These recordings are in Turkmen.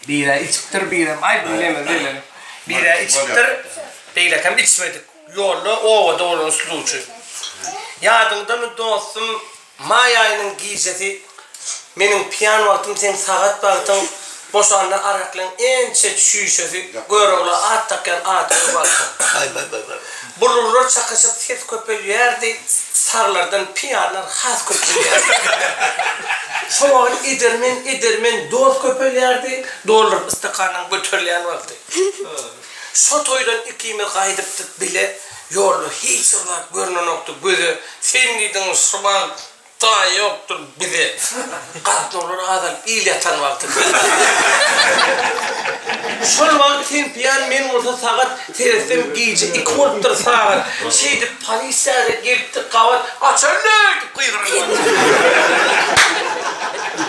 Birä içipdir, birem aý bu neme welin. Birä içipdir, beýlekem içmedik. Ýolda obada bolan suduwçy. Ýadyňdamy dostum, maý aýynyň gijesi meniň piýan wagtym seň sagat wagtyň boşanda araklyň ençe çüýşesi Görogla at dakýan atyň wagty. Baý-baý-baý-baý. Bulurlar çakyşyp ses köpelýärdi, saglardan pyýalar has köpelýärdi. Şo wagt edermen, edermen dost köpelýärdi, dolduryp ystakanyň göterilýän wagty. Şo toýdan ikimiz gaýdypdyk bile, ýolda hiç bir zat görnenokdy, göze sen diýdiň şo wagt Taýy ýokdur bize gatnawlar azalyp il ýatan wagty diýdi. Şol wagt sen piýan men bolsa sagat seretsem gije iki bolupdyr sagat şeýdip polisiýada gelipdi gabat açandy diýip gygyryp ýördi.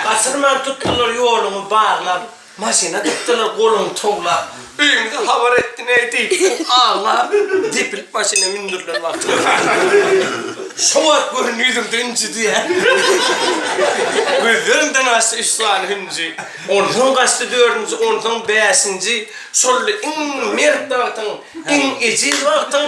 Gaçyrman tutdylar ýoluňy baglap. Maşyna dykdylar goluny towlap. Öýümize habar etdiňeý diýipdir. Aglap, depilip maşyna mündürilen wagty öldüriler. Şo wagt görün ýüzümde ünji diýýär. Gözlerimden aşdy üç sany hünji. Onsoň gaçdy dördünji, onsoň bäşinji. Şol iň mert wagtyň, iň ejiz wagtyň